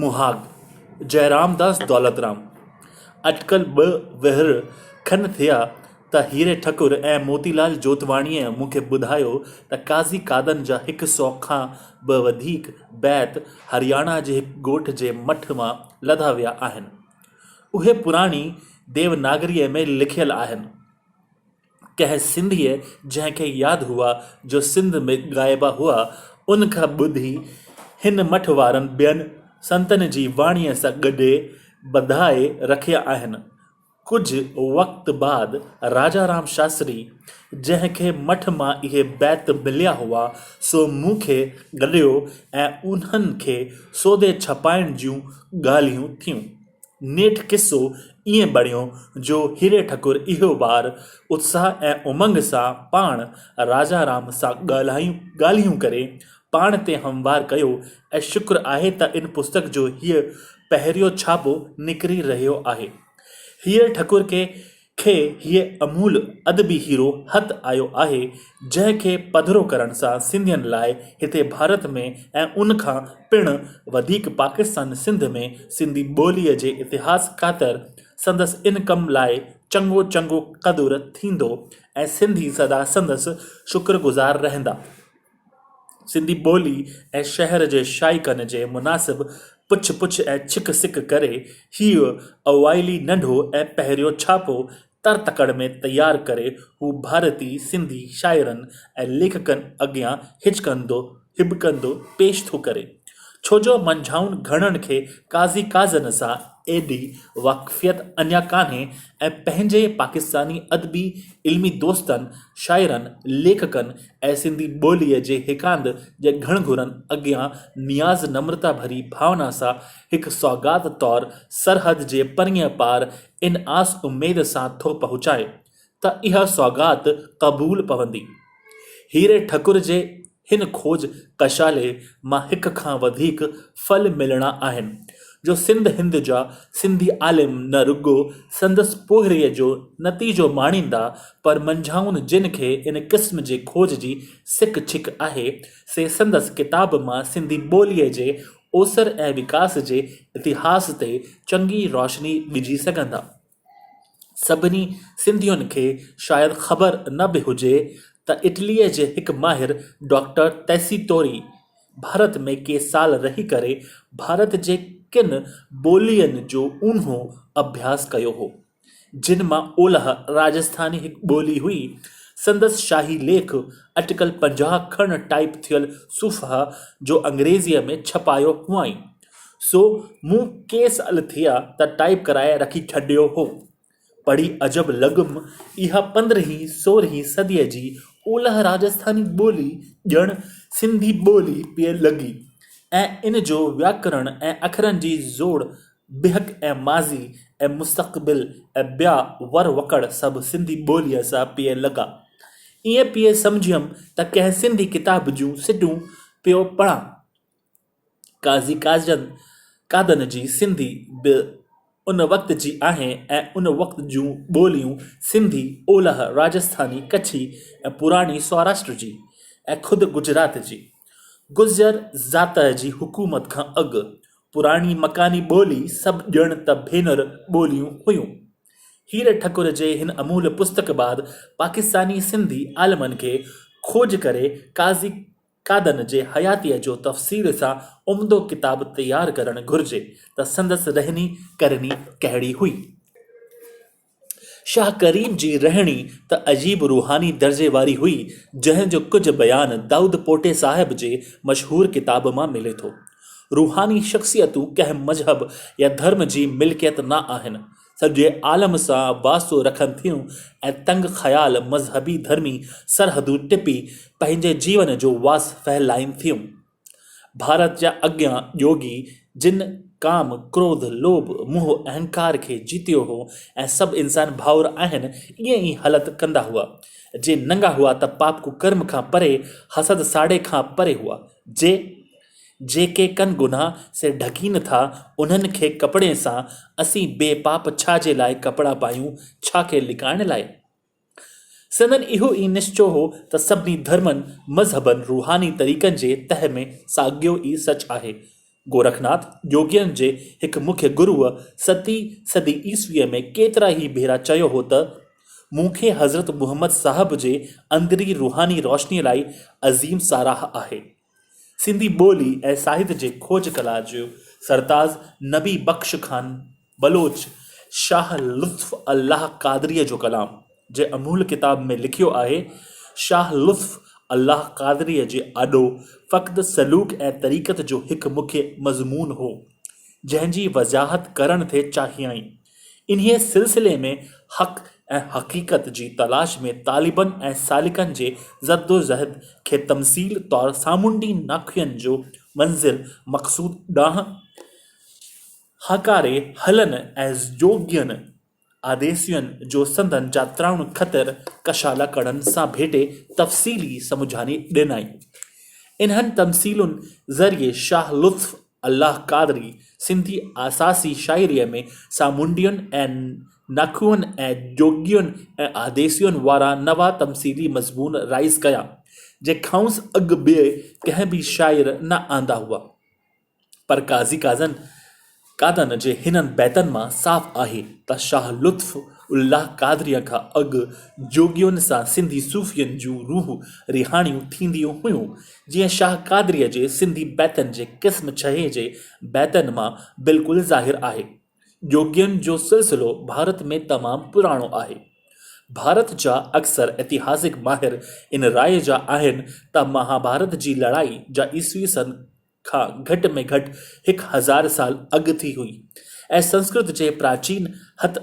مهاڳ، جئرامداس دولترام، اٽڪل ٻه وهر کن ٿيا ته هيري ٺڪر ۽ موتيلال جوتواڻيء مون کي ٻڌايو ته قاضي قادن جا هڪ سؤ کان به وڌيڪ بيت هرياڻا جي هڪ ڳوٺ جي مٺ مان لڌا ويا آهن. اهي پراڻي ديوناگريء ۾ لکيل آهن. ڪنهن سنڌيء جنهن کي ياد هئا جو سنڌ ۾ ڳائبا هئا، ان کان ٻڌي هن مٺ وارن ٻين سنتن جي واڻيء سان گڏي ٻڌائي رکيا آهن. ڪجهه وقت بعد راجا رام شاستري جنهن کي مٺ مان اهي بيت مليا هئا، سو مون کي گڏيو ۽ انهن کي سوڌي ڇپائڻ جون ڳالهيون ٿيون. نيٺ قصو ائين بڻيو جو هيري ٺڪر اهو بار اتساهه ۽ امنگ سان پاڻ راجا رام سان ڳالهايون ڳالهيون ڪري پاڻ تي هموار ڪيو ۽ شڪر آهي ته ان پستڪ جو هيء پهريون ڇاپو نڪري رهيو آهي. هيري ٺڪر کي کي هيء امول ادبي هيرو هٿ آيو آهي، جنهن کي پڌرو ڪرڻ سان سنڌين لاء هتي ڀارت ۾ ۽ ان کان پڻ وڌيڪ پاڪستان سنڌ ۾ سنڌي ٻوليء جي اتهاس خاطر سندس ان ڪم لاء چڱو چڱو قدر ٿيندو ۽ سنڌي سدا سندس شڪرگذار رهندا. سنڌي ٻولي ۽ شهر جي شائقن جي مناسب پڇ پڇ ۽ ڇڪ سڪ ڪري هيء اوائلي ننڍو ۽ پهريون ڇاپو تر تڪڙ ۾ تيار ڪري هو ڀارتي سنڌي شاعرن ۽ ليکڪن اڳيان هچڪندو هٻڪندو پيش ٿو ڪري ڇو جو منجهائن گهڻن کي قاضي قاضن سان ايڏي واقفيت اڃا ڪانهي ۽ پنهنجي پاڪستاني ادبي علمي دوستن، شاعرن، ليکڪن ۽ سنڌي ٻوليء جي هيڪاند جي گهڻگهرن اڳيان نياز نمرتا ڀري ڀاونا سان هڪ سوغات طور سرحد جي پرينء پار ان آس اميد سان ٿو پهچائي ته اها سوغات قبول پوندي. هيري ٺڪر جي هن کوج ڪشالي مان هڪ کان وڌيڪ ڦل ملڻا آهن، جو سنڌ هند جا سنڌي عالم نه رڳو سندس پوهريء جو نتيجو ماڻيندا، پر منجهائن جن کي ان قسم جي کوج جي سڪ ڇڪ آهي، سي سندس ڪتاب مان سنڌي ٻوليء جي اوسر ۽ وڪاس جي اتهاس تي چڱي روشني وجهي سگهندا. سڀني سنڌين کي شايد خبر نه به هجي ته اٽليء جي هڪ ماهر ڊاڪٽر تيسي توري ڀارت ۾ ڪي سال رهي ڪري ڀارت جي ڪن ٻولين جو اونهو اڀياس ڪيو هو جن مان اولهه راجسٿاني هڪ ٻولي هئي سندس شاهي ليک اٽڪل پنجاهه کن ٽائيپ ٿيل صفحا جو انگريزيء ۾ ڇپايو هئائين سو مون ڪيس ال ٿيا ته ٽائيپ ڪرائي رکي ڇڏيو هو. پڙهي عجب لڳم اها پندرهين سورهين صديء جي اولهه راجسٿاني ٻولي ڄڻ سنڌي ٻولي پيئي لڳي ۽ ان جو وياڪرڻ ۽ اکرن جي زوڙ بيهڪ ۽ ماضي ۽ مستقبل ۽ ٻيا ور وڪڙ سڀ سنڌي ٻوليء سان پيئي لڳا. ائين پيئي سمجهيم ته ڪنهن سنڌي ڪتاب جون سٽون پيو پڙهان. قاضي قاضين قاضن جي سنڌي به ان وقت جي آهي ۽ ان وقت جون ٻوليون سنڌي، اولهه راجسٿاني، ڪڇي ۽ پراڻي سوراشٽر جي ۽ خود گجرات جي. گذر زاتئ جي حڪومت کان اڳ پراڻي مڪاني ٻولي سڀ ڄڻ ته ڀينر ٻوليون هيون. هير ٺڪر جي هن امول پستڪ بعد پاڪستاني سنڌي عالمن کي کوج ڪري قاضي قادن جي حياتيء جو تفصيل سان عمدو ڪتاب تيار ڪرڻ گهرجي ته سندس رهني ڪرني ڪهڙي هئي. شاهه ڪريم جي رهڻي ته عجيب روحاني درجي واري هئي، جنهن جو ڪجهه بيان دائود پوٽي صاحب جي مشهور ڪتاب مان ملي ٿو. روحاني شخصيتون ڪنهن مذهب يا ڌرم جي ملڪيت نه آهن. سڄي عالم سان واسطو رکن ٿيون ۽ تنگ خيال مذهبي ڌرمي سرحدون ٽپي پنهنجي جيون جو واس ڦهلائين ٿيون. ڀارت جا اڳيان يوگي جن ڪام، ڪروڌ، لوڀ، موهه، اهنڪار کي جيتيو هو ۽ سڀ انسان ڀائور آهن ائين ئي هلت ڪندا هئا. جي ننگا هئا ته پاپ ڪڪرم کان پري، حسد ساڙي کان پري هئا. جي جيڪي ڪن گناھ سي ڍڪي نه ٿا انهن کي ڪپڙي سان اسين بي پاپ ڇا جي لاء ڪپڙا پايون ڇا کي لڪائڻ لاء؟ سندن اهو ئي نشچو هو ته سڀني ڌرمن، مذهبن، روحاني طريقن جي تهه ۾ ساڳيو ئي سچ آهي. گورکناٿ جوڳين جي هڪ مکيه گروء ستي صدي عيسويء ۾ ڪيترا ئي ڀيرا چيو هو ته، مون کي حضرت محمد صاحب جي اندرين روحاني روشنيء لاء عظيم ساراهه آهي. سنڌي ٻولي ۽ ساهت جي کوج ڪلا جو سرتاز نبي بخش خان بلوچ شاهه لطف الله قادريء جو ڪلام جنهن امول ڪتاب ۾ لکيو آهي، شاهه لطف الله قادريء جي آڏو فقط سلوڪ ۽ طريقت جو هڪ مکيه مضمون هو، جنهن جي وضاحت ڪرڻ ٿي چاهيائين. انهيء سلسلي ۾ حق ۽ حقيقت جي تلاش ۾ طالبن ۽ سالڪن جي زدوجهد کي تمثيل طور سامونڊي ناکئن جو منزل مقصود ڏانهن هاڪاري هلن ۽ جوڳين آديسين جو سندن جاترائڻ خطر ڪشالا ڪڙن سان ڀيٽي تفصيلي سمجهاڻي ڏنائين. انهن تمثيلن ذريعي شاهه لطف الله قادري سنڌي آساسي شاعريء ۾ سامونڊين ۽ ناکوئن ۽ جوڳين ۽ آديسين وارا نوان تمثيلي مضمون رائج ڪيا، جنهن کانئس اڳ ٻئي ڪنهن به شاعر نه آندا هئا. پر قاضي قاضن قادن جي هنن بيتن مان صاف آهي ته شاهه لطف الله قادريء کان اڳ جوڳين سان سنڌي صوفين جون روح رهاڻيون ٿينديون هيون جيئن شاهه قادريء جي سنڌي بيتن جي قسم ڇهين جي بيتن مان بلڪل ظاهر آهي. جوڳين جو سلسلو ڀارت ۾ تمام پراڻو آهي. ڀارت جا اڪثر اتهاسڪ ماهر ان راء جا آهن ته مهاڀارت جي لڙائي جا عيسوي سن کان گهٽ ۾ گهٽ هڪ هزار سال اڳ ٿي هئي ۽ سنسڪرت جي پراچين هٿ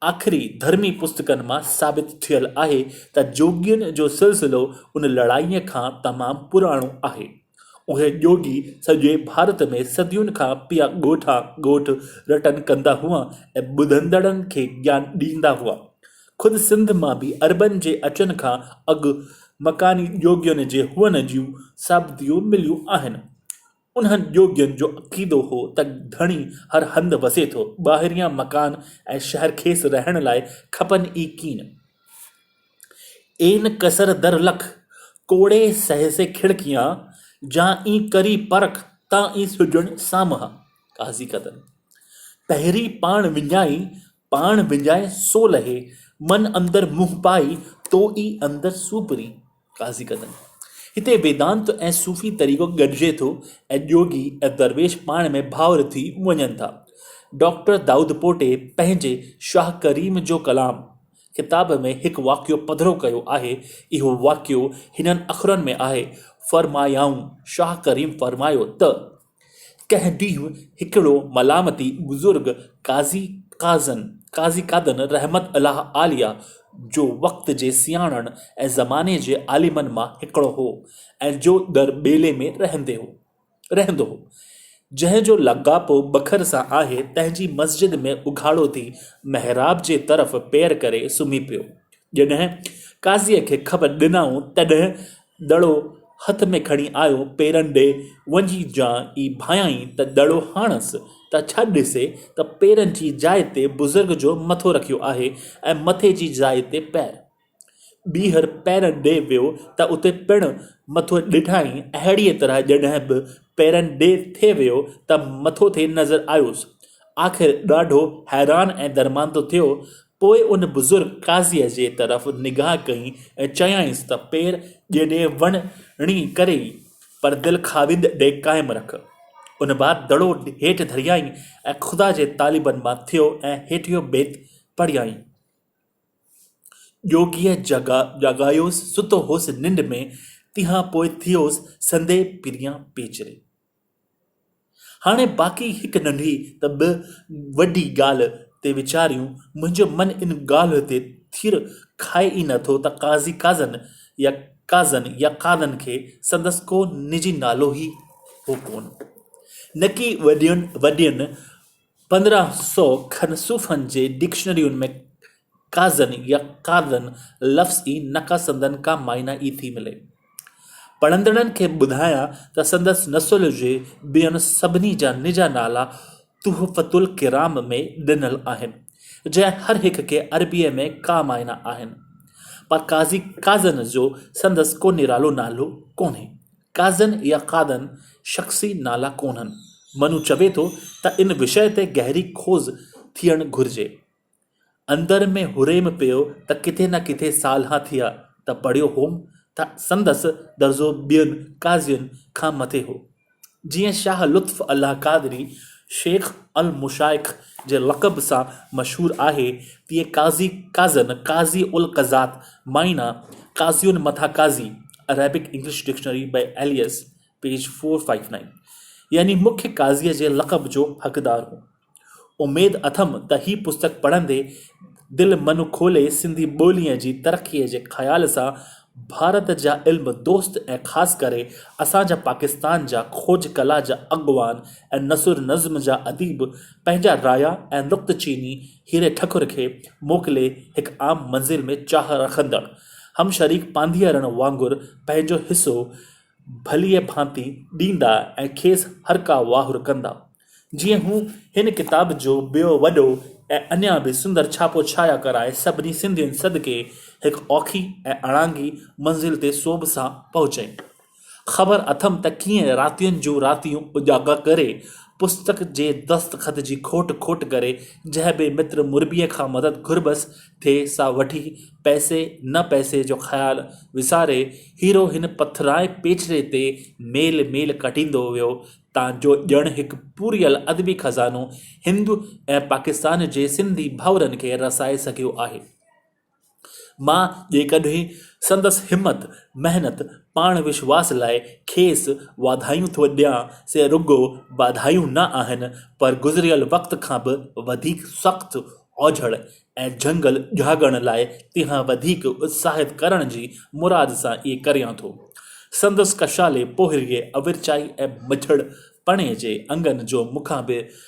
آخري ڌرمي پستڪن مان ثابت ٿيل آهي ته جوڳين جو سلسلو ان لڙائيء کان تمام پراڻو آهي. اهي جوڳي سڄي ڀارت ۾ صدين کان پيا ڳوٺ آن ڳوٺ رٽن ڪندا هئا ۽ ٻڌندڙن کي گيان ڏيندا هئا. خود سنڌ مان به عربن جي اچڻ کان اڳ مڪاني جوڳين جي هئڻ جون ثابتيون مليون آهن. انهن جوڳين جو عقيدو هو ته ڌڻي هر هنڌ وسي ٿو، ٻاهريان مڪان ۽ شهر کيس رهڻ لاء کپن ئي ڪين. اين قصر در لک، ڪوڙي سهسي کڙڪيان، جا اين ڪري پرک، تان اين سجڻ سامهان. قاضي قدر پهرين پاڻ وڃائي، پاڻ وڃائي سو لهي، من اندر منهن پائي، تو ئي اندر سوپري. قاضي قدم. هتي ويدانت ۽ صوفي طريقو گڏجي ٿو ۽ جوڳي ۽ درويش پاڻ ۾ ڀائر ٿي وڃن ٿا. ڊاڪٽر دائودپوٽي پنهنجي شاهه ڪريم جو ڪلام ڪتاب ۾ هڪ واقعو پڌرو ڪيو آهي، اهو واقعو هنن اکرن ۾ آهي، فرمايائون، شاهه ڪريم فرمايو ته. ڪنهن ڏينهن هڪڙو ملامتي بزرگ قاضي قاضن، Qazi Qadan، رحمة الله عليه جو وقت جي سياڻن ۽ زماني جي عالمن مان هڪڙو هو ۽ جو در ٻيلي ۾ رهندو هو، جنهن جو لاڳاپو بکر سان آهي، تنهن جي مسجد ۾ اگهاڙو ٿي محراب جي طرف پير ڪري سمهي پيو. جڏهن قاضيء کي خبر ڏنائون، تڏهن دڙو هٿ ۾ کڻي آيو پيرن ڏي وڃي جا ئي ڀانئيائين ته دڙو هڻس ته ڇا ڏسي ته پيرن جي جاء تي بزرگ جو مٿو رکيو آهي ۽ مٿي جي جاء تي پير. ٻيهر پيرن ڏي ويو ته اتي پڻ مٿو ڏٺائين اهڙيء طرح جڏهن به پيرن ڏي ٿي ويو ته مٿو ٿي نظر آيس. آخر ڏاڍو حيران ۽ درماندو ٿيو پوء ان بزرگ قاضيء جي طرف نگاهه ڪئي ۽ چيائينس ته پير ڄيڏي وڻڻي ڪري ئي، پر دل خاوند ڏي قائم رک. ان بعد دڙو هيٺ ڌريائين ۽ خدا جي طالبن مان ٿيو ۽ هيٺيون بيت پڙهيائين. جوڳيء جاڳايوس، ستو هوس ننڊ ۾، تنهان پوء ٿيوس سندي پريان پيچري. هاڻي باقي هڪ ننڍي ته ٻه وڏي ڳالهه تي ويچاريون، منهنجو من ان ڳالهه تي ٿير کائي ئي نه ٿو ته قاضي قاضن يا قاضن يا قاضن کي سندس ڪو نجي نالو ئي هو ڪونه، نڪي وڏين وڏين پندرهن سؤ کن صوفن جي ڊڪشنرين ۾ قاضن يا قاضن لفظ ئي نه ڪا سندن ڪا معنيٰ ئي ٿي ملي. پڙهندڙن کي ٻڌايان ته سندس نسل جي ٻين سڀني جا نجا نالا تحفة الڪرام ۾ ڏنل آهن، جنهن هر هڪ کي عربيء ۾ ڪا معنيٰ آهن. پر قاضي قاضن جو سندس ڪو نرالو نالو ڪونهي. قاضين يا قادن شخصي نالا ڪونهن. منو چوي ٿو ته ان وشيه تي گهري کوز ٿيڻ گهرجي. اندر ۾ هريم پيو ته ڪٿي نه ڪٿي سالها ٿيا ته پڙهيو هوم ته سندس درجو ٻين قاضين کان مٿي هو. جيئن شاهه لطف الله قادري شيخ المشائخ جي لقب سان مشهور آهي تيئن قاضي قاضن، قاضي القضات، معنيٰ قاضين مٿان قاضي، Arabic English Dictionary by Elias, page 459 يعني مکي قاضيء جي لقب جو حقدار هو. اميد اٿم ته هي پستڪ پڙهندي دل من کولي سنڌي ٻوليء جي ترقيء جي خيال سان ڀارت جا علم دوست ۽ خاص ڪري اسان جا پاڪستان جا کوج ڪلا جا اڳواڻ ۽ نثر نظم جا اديب پنهنجا رايا ۽ نقطه چيني هيري ٺڪر کي موڪلي هڪ عام منزل ۾ چاهه رکندڙ هم شريڪ پانڌيئرن وانگر پنهنجو حصو ڀليء ڀانتي ڏيندا ۽ کيس هرڪا واهر ڪندا. جيئن هو هن ڪتاب جو ٻيو وڏو ۽ اڃا به سندر ڇاپو ڇايا ڪرائي سڀني سنڌين صدقي هڪ اوکي ۽ اڻانگي منزل تي سوڀ سان پهچين. خبر اٿم ته ڪيئن راتين جون راتيون اجاڳا ڪري، پستڪ جي دستخط جي کوٽ کوٽ ڪري، جنهن به متر مربيء کان مدد گهربس ٿي، سا وٺي، پئسي نه پئسي جو خيال وساري، هيرو هن پٿرائين پيچري تي ميل ميل ڪٽيندو ويو، تان جو ڄڻ هڪ پورهيل ادبي خزانو هند ۽ پاڪستان جي سنڌي ڀائرن کي رسائي سگهيو آهي. مان جيڪڏهن سندس همت، محنت، پاڻ وشواس لاء کيس واڌايون ٿو ڏيان، سي رڳو واڌايون نه آهن، پر گذريل وقت کان به وڌيڪ سخت اوجهڙ ۽ جهنگل جهاڳڻ لاء تنهن وڌيڪ اتساهت ڪرڻ جي مراد سان اهي ڪريان ٿو. سندس ڪشالي پوهريء اورچائي ۽ مجهڙ پڻي جي انگن جو مون کان به